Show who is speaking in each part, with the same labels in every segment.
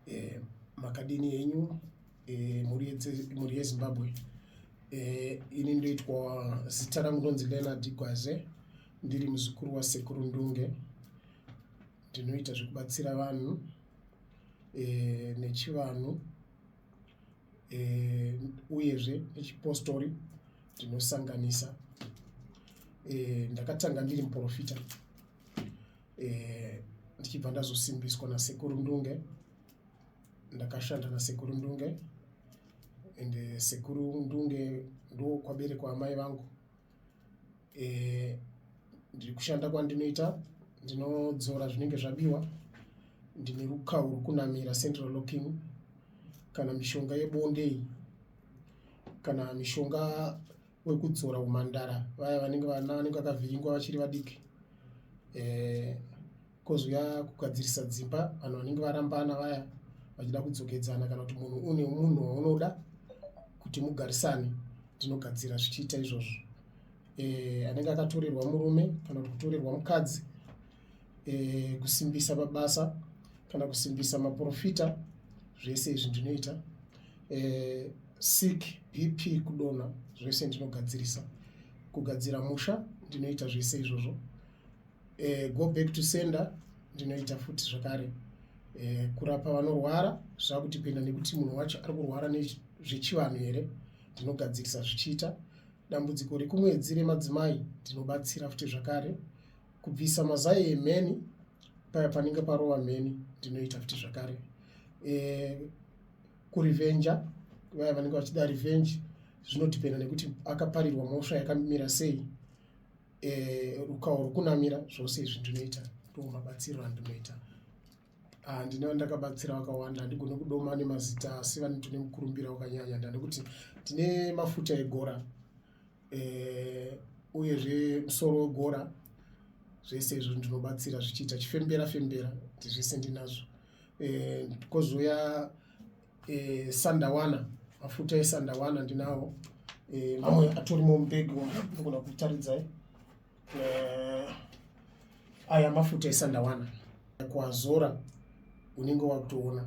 Speaker 1: eh, makadini henyu eh, mhuri yezimbabwe eh, ini ndoitwa zita rangu ndonzi leonard gwaze ndiri muzukuru wasekuru ndunge ndinoita zvekubatsira vanhu eh, nechivanhu eh, uyezve nechipostori ndinosanganisa eh, ndakatanga ndiri muprofita eh, ndichibva ndazosimbiswa nasekuru ndunge ndakashanda nasekuru ndunge and eh, sekuru ndunge ndokwaberekwa amai vangu eh, ndiri kushanda kwandinoita ndinodzora zvinenge zvabiwa ndine rukawu rwokunamira central locking kana mishonga yebondei kana mishonga wekudzora umhandara vaya vanenge vana vanenge vakavhiringwa vachiri vadiki eh, kozouya kugadzirisa dzimba vanhu vanenge varambana vaya vachida kudzokedzana kana kuti munhu une munhu waunoda kuti mugarisane tinogadzira zvichiita izvozvo eh, anenge akatorerwa murume kana kuti kutorerwa mukadzi e, kusimbisa mabasa kana kusimbisa maprofita zvese izvi ndinoita e, sick bp kudona zvese ndinogadzirisa kugadzira musha ndinoita zvese izvozvo e, go back to sender ndinoita futi zvakare e, kurapa vanorwara zvakutipinda nekuti munhu wacho ari kurwara nezvechivanhu here ndinogadzirisa zvichiita dambudziko rekumwedzi remadzimai ndinobatsira futi zvakare kubvisa mazai emheni paya panenge parova mheni ndinoita futi zvakare e, kurivenja vaya vanenge vachida revenge zvinodhipenda nekuti akaparirwa mhosva yakamira sei e, rukawo rwokunamira zvose izvi ndinoita ndomabatsiro andinoita Ah, ndinova ndakabatsira vakawanda handigone kudoma nemazita asi vane tine mukurumbira wakanyanya ndanekuti tine mafuta egora eh, uyezve musoro wegora zvese izvo ndinobatsira zvichiita chifembera fembera ndizvese ndinazvo eh, kozouya eh, sandawana mafuta esandawana ndinawo mamwe atorimo mubhegi wanogona kutaridzae uh, aya mafuta esandawana kuazora unenge wakutoona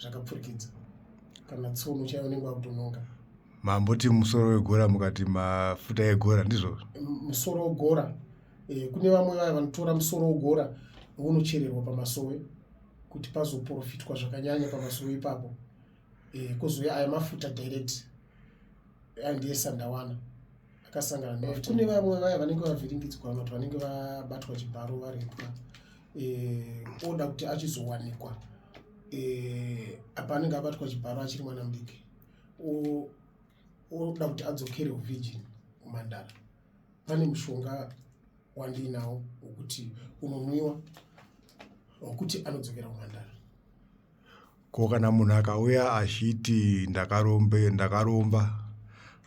Speaker 1: zvakapfurikidza kana tsono chaiyo unenge wakutononga mamboti
Speaker 2: musoro wegora mukati mafuta egora ndizvozvo musoro wegora
Speaker 1: e, kune vamwe vaya vanotora musoro wegora unochererwa pamasowe kuti pazoprofitwa zvakanyanya pamasowe ipapo eh, kozouya aya mafuta direct andiye sandawana akasangana ne kune vamwe vaya vanenge vavhiringidzwa vamwe kuti vanenge vabatwa chibharo varipwa eh, oda kuti achizowanikwa eh, apa anenge abatwa chibharo achiri mwana mudiki oda kuti adzokere uvigin kumandara pane mushonga wandiinawo wokuti unonwiwa wokuti anodzokera kumandara
Speaker 2: Ko kana munhu akauya achiti ndakarombe ndakaromba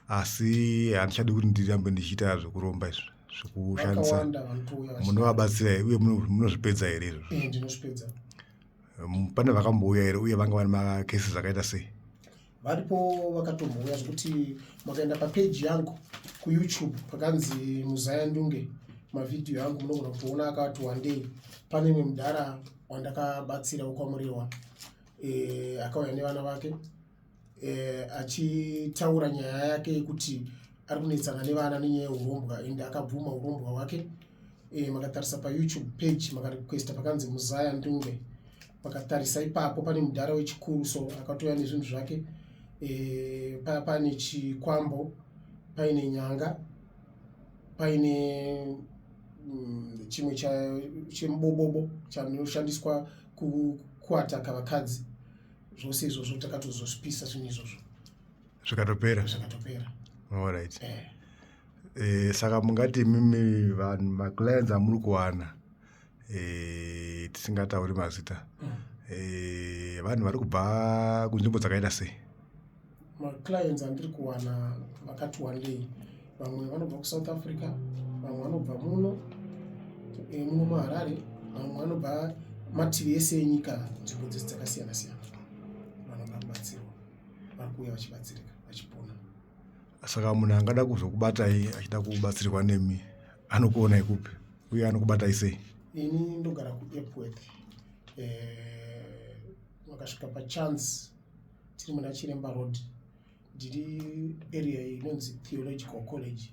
Speaker 2: asi handichadi kuti ndirambe ndichiita zvekuromba izvi zvekushandisa munovabatsira uye munozvipedza here izvozvo pane vakambouya here uye vanga vane makesi zvakaita sei varipo
Speaker 1: vakatombouya zvekuti makaenda papeji yangu kuyoutube pakanzi muzaya ndunge mavhidhiyo yangu munogona kutoona akati wandei pane imwe mudhara wandakabatsira wekwamurewa e, eh, akauya nevana vake e, achitaura nyaya yake yekuti ari kunetsana nevana nenyaya yeurombwa and akabvuma urombwa hwake e, makatarisa payoutube page makarequesta pakanzi muzaya ndunge vakatarisa ipapo pane mudhara wechikuru so akatouya nezvinhu zvake e, paya pane chikwambo paine nyanga paine mm, chimwe chemubobobo chanoshandiswa kuataka vakadzi zvose izvozvo takatozozvipisa zvinhu izvozvo zvikatopera
Speaker 2: zvikatopera allright eh. eh, saka mungati imimi vanhu maclients amuri kuwana e, tisingatauri mazita mm. e, vanhu vari kubva kunzvimbo dzakaita sei maclients
Speaker 1: andiri kuwana vakati wandei vamwe vanobva kusouth africa vamwe vanobva muno e, muno muharare vamwe vanobva mativi ese enyika nzvimbo dzese dzakasiyana siyana vanoda kubatsirwa vari kuuya vachibatsirika vachipona saka
Speaker 2: munhu angada kuzokubatai achida kubatsirwa nemi anokuonai kupi uye anokubatai sei ini ndogara
Speaker 1: kuepworth eh, vakasvika eh, pachance tiri muna chiremba road ndiri area inonzi theological college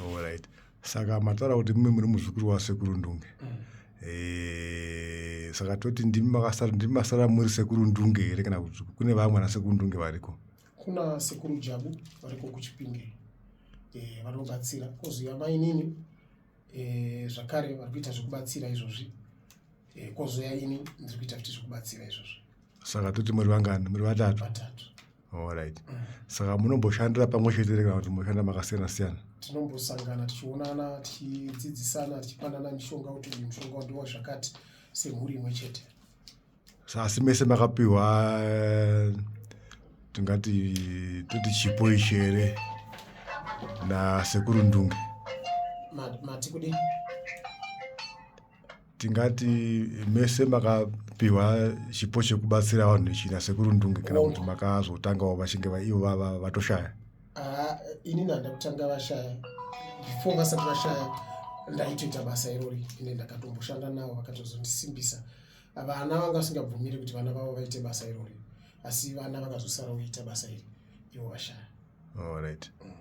Speaker 1: Alright.
Speaker 2: Saka mataura kuti mumwe muri muzukuru wasekuru Ndunge. Mm. Eh, saka toti ndimi makasara ndimi masara muri sekuru Ndunge here kana kuti kune vamwe na sekuru Ndunge variko? Kuna sekuru
Speaker 1: Jabu variko kuChipinge. Eh, vanobatsira. Koziva mai nini eh zvakare vari kuita zvekubatsira izvozvi. Eh, kozoya ini ndiri kuita kuti zvekubatsira izvozvi. Saka toti muri
Speaker 2: vangani? Muri vatatu. Vatatu.
Speaker 1: Alright.
Speaker 2: Saka munomboshandira pamwe chete kana kuti munoshanda makasiyana siyana? Tinombosangana
Speaker 1: tichionana tichidzidzisana tichipanana mishonga kuti uyu mushonga wandiwa zvakati semhuri imwe chete. Asi
Speaker 2: mese makapiwa eh, tingati toti chipo ichi here nasekuru Ndunge?
Speaker 1: Mati kudini?
Speaker 2: tingati mese makapiwa chipo chekubatsira vanhu nechina sekuru ndunge kana kuti makazotangawo vachinge ivo vatoshaya ah,
Speaker 1: inini handa kutanga vashaya before vasati vashaya ndaitoita basa irori ende ndakatomboshanda navo vakatozondisimbisa vana vanga vasingabvumiri kuti vana vavo vaite basa irori asi vana vakazosara kuita basa iri ivo vashaya allright mm.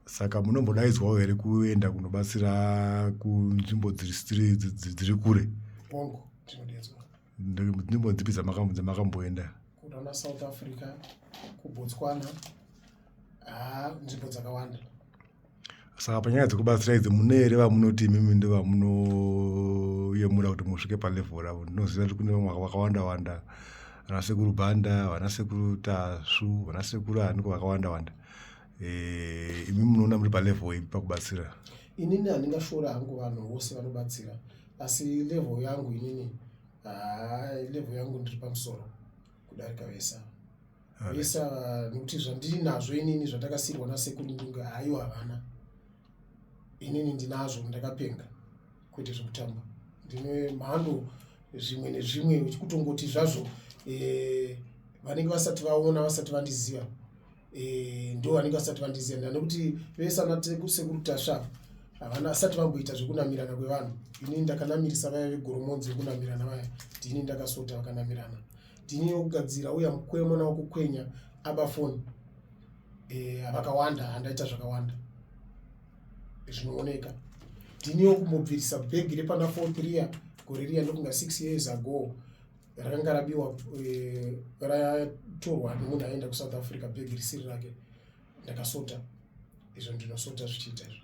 Speaker 2: saka munombodaidzwawo here kuenda kunobatsira kunzvimbo dziri kure bongo
Speaker 1: tinodedzwa nzvimbo
Speaker 2: dzipi dzamakamboenda kunaana south
Speaker 1: africa kubotswana haa nzvimbo dzakawanda
Speaker 2: saka panyaya dzekubatsira idzi mune here vamunoti imimi ndo vamunoyemura kuti musvike palevel ravo ndinoziva kuti kune vamwe vakawanda wanda vanasekuru banda vanasekuru tasvu vanasekuru aniko vakawanda wanda eh, imi munoona muri palevel ipi pakubatsira inini handingashora
Speaker 1: hangu vanhu vose vanobatsira asi level yangu inini ah, level yangu ndiri pamusoro kudarika vese ava Alright. vese ava nokuti zvandiri nazvo inini zvatakasirwa nasekundunge hayo havana inini ndinazvo ndakapenga kwete zvekutamba ndine mhando zvimwe nezvimwe uchikutongoti zvazvo eh, vanenge vasati vaona vasati vandiziva eh, ndo vanenge vasati vandiziva nda nekuti vese anasekuru tasva havana asati vamboita zvekunamirana kwevanhu ini ndakanamirisa vaya vegoromonzi vekunamirana vaya ndini ndakasota vakanamirana ndini yokugadzira uya mukwemo nawo kukwenya abafoni eh, avakawanda handaita zvakawanda zvinooneka ndiniwo kumubvirisa bhegi repana four tria gore riya ndokunga six years ago rakanga rabiwa eh, ratorwa nemunhu aenda kusouth africa bhegi risiri rake ndakasota izvo ndinosota zvichiita izvo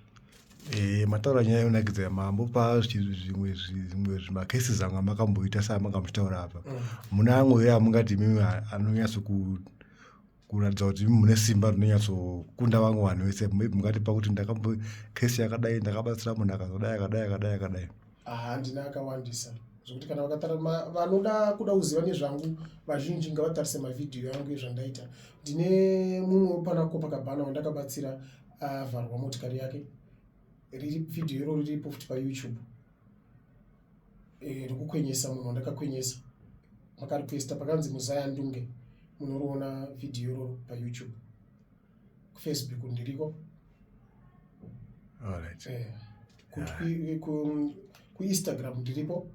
Speaker 1: Eh, mataura
Speaker 2: nyaya yonakidza mambo pa zvimwe zvimwe zvimacases amwe amakamboita seamanga muchitaura apa mm. muna amwe here amungati mimi anonyatso kuratidza kuti mune simba rinonyatsokunda vamwe vanhu vese maybe mungatipa kuti ndakambo kesi yakadai ndakabatsira munhu akazodai akadai akadai akadai handina
Speaker 1: akawandisa zvekuti kana vakatara vanoda kuda kuziva nezvangu vazhinji ngavatarise mavhidhiyo yangu ezvandaita ndine mumwe wepanako pakabhana wandakabatsira avharwa motikari yake riri vhidhiyo iroro riripo futi payoutube eh, rekukwenyesa munhu wandakakwenyesa makarequesta pakanzi muzaya ndunge munoriona vhidhiyo iroro payoutube kufacebook ndiriko
Speaker 2: eh,
Speaker 1: kuinstagram ndiripo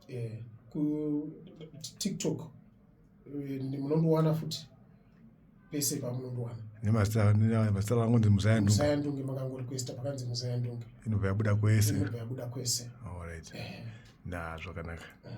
Speaker 1: eh, kutiktok munondowana futi pese pamunondowana nemazita
Speaker 2: rangu ndi muzayandunge makangorequesta
Speaker 1: pakanzi muzayandunge inobva yabuda kwese
Speaker 2: inobva
Speaker 1: yabuda
Speaker 2: kwese
Speaker 1: allright
Speaker 2: eh.
Speaker 1: na zvakanaka
Speaker 2: eh.